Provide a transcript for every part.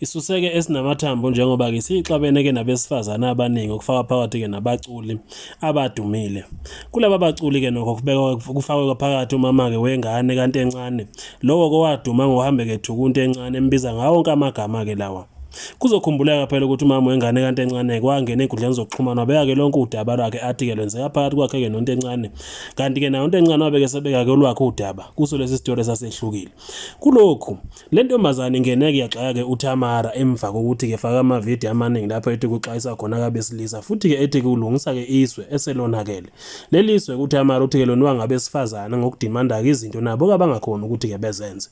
Isuseke esinamathambo njengoba ke siyixabene ke nabesifazane abaningi okufaka phakathi ke nabaculi abadumile. Kulaba baculi ke nokho kubekwa kufakwe phakathi umama ke wengane kanti encane lowo kowaduma ngohambe ke thukunti encane embiza ngawo onke amagama ke lawa. Kuzokhumbuleka phela ukuthi umama wengane kanti encane kwangena enkundleni zokuxhumana wabeka ke lonke udaba lwakhe athi ke lwenzeka phakathi kwakhe ke nonto encane kanti ke nayo into encane wabeke sebeka ke olwakhe udaba kuso lesi sitolo sasehlukile kulokhu Le ntombazane ingeneke yaxaka-ke uTamara emva kokuthi-ke faka amavidiyo amaningi lapho ethi kuxwayisa khona kabesilisa futhi-ke ethi kulungisa-ke iswe eselonakele. Leli swe uTamara uthi-ke lonwa ngabesifazane ngokudimanda-ke izinto nabo kabangakhoni ukuthi-ke bezenze.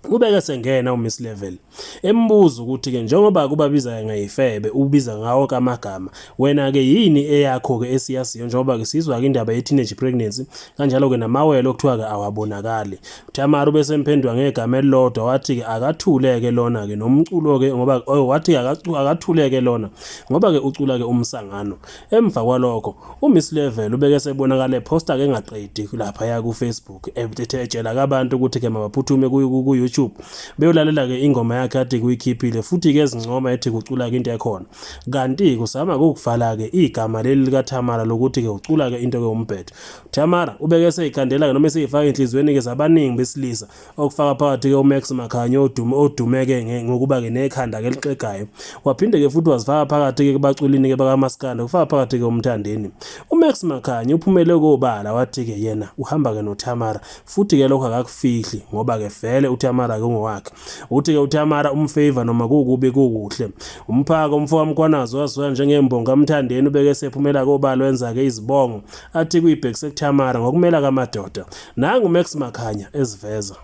Kubeke sengena uMiss Level embuza ukuthi-ke njengoba kubabiza-ke ngeyifebe ubiza ngawo kamagama wena-ke yini eyakho-ke esiyaziyo njengoba-ke sizwa-ke indaba ye-teenage pregnancy kanjalo-ke namawele okuthiwa-ke awabonakali Thamara ubesemphendwa ngegama elilodwa wathi-ke akathuleke lona-ke nomculo-ke ngoba oh, wathi akathuleke lona ngoba-ke ucula-ke umsangano emva kwalokho umiss level ubeke sebonakala ephosta-ke engaqedi laphaya kufacebook ethe etshela kabantu ukuthi-ke mabaphuthume ku-youtube beyolalela-ke ingoma yakhe athi kuyikhiphile futhi-ke ezincoma ethi kucula-ke into ekhona kanti kusama kukuvala-ke igama leli likathamara lokuthi-ke ucula-ke into-ke umbhedo Tamara ubeke eseyikhandela-ke noma eseyifaka enhliziyweni-ke zabaningi besilisa okufaka phakathi-ke umax makhanye odume odume-ke ngokuba-ke nekhanda-ke elixegayo waphinde-ke futhi wazifaka phakathi-ke kubaculini-ke bakamaskanda kufaka phakathi-ke umthandeni umax makhanye uphumele kobala wathi-ke yena uhamba-ke notamara futhi-ke lokho akakufihli ngoba-ke vele utamara-ke ungowakhe uthi-ke utamara umfavor noma kukubi kukuhle umphaka umfo kamkwanazi waziwa njengembongo kamthandeni ubeke sephumela kobala wenza-ke izibongo athi kuyibhekise kuThamara ngokumela kamadoda. Nangu Max Makhanya eziveza.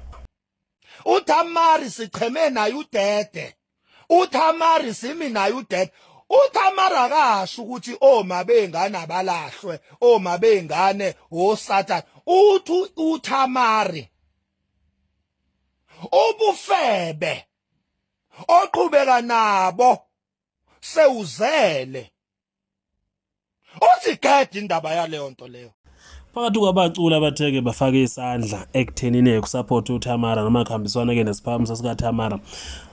uThamari sicheme naye udede uThamari simi naye udede uThamari akasho ukuthi oma bengane abalahlwe oma bengane wosathane uthi uThamari ubufebe oqhubeka nabo sewuzele usigede indaba yaleyo nto leyo phakathi kwabaculi abatheke bafake isandla ekuthenini ekusaphothe uTamara noma kuhambiswana-ke nesiphakamiso sikaTamara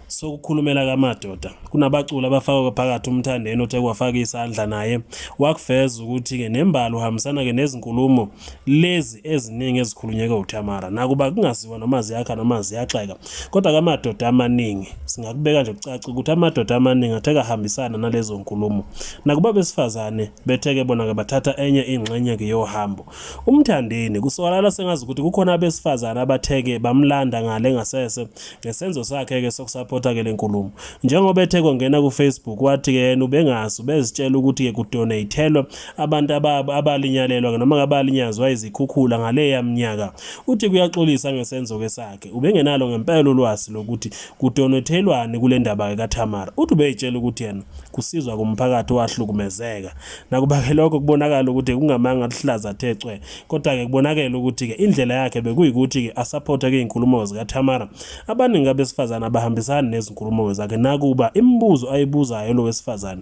sokukhulumela kamadoda kunabaculi abafakwe phakathi umthandeni othe kwafaka isandla naye wakuveza ukuthi-ke nembala uhambisana-ke nezinkulumo lezi eziningi ezikhulunyeke uTamara nakuba kungaziwa noma ziyakha noma ziyaxeka kodwa kamadoda amaningi singakubeka nje kucaca ukuthi amadoda amaningi atheka hambisana nalezo nkulumo nakuba besifazane betheke bona ke bathatha enye ingxenye ke yohambo umthandeni kusokalala sengazi ukuthi kukhona abesifazane abatheke bamlanda ngale ngasese ngesenzo sakhe ke sokusupporta ke lenkulumo njengoba ethe kwangena ku Facebook wathi ke yena ubengazi ubezitshela ukuthi ke kudonatelwa abantu abalinyalelwa noma ngabalinyazwa izikhukhula ngaleya mnyaka. Uthi kuyaxolisa ngesenzo-ke sakhe. Ubengenalo ngempela ulwazi lokuthi kudonethelwani kule ndaba-ke kaThamara. Uthi ubeyitshela ukuthi yena kusizwa kumphakathi owahlukumezeka. Nakuba-ke lokho kubonakala ukuthi kungamanga luhlaza the cwe, kodwa-ke kubonakele ukuthi-ke indlela yakhe bekuyikuthi-ke asaphothe iy'nkulumo zikaThamara. Abaningi abesifazane abahambisani nezinkulumo zakhe nakuba imibuzo ayibuzayo lo wesifazane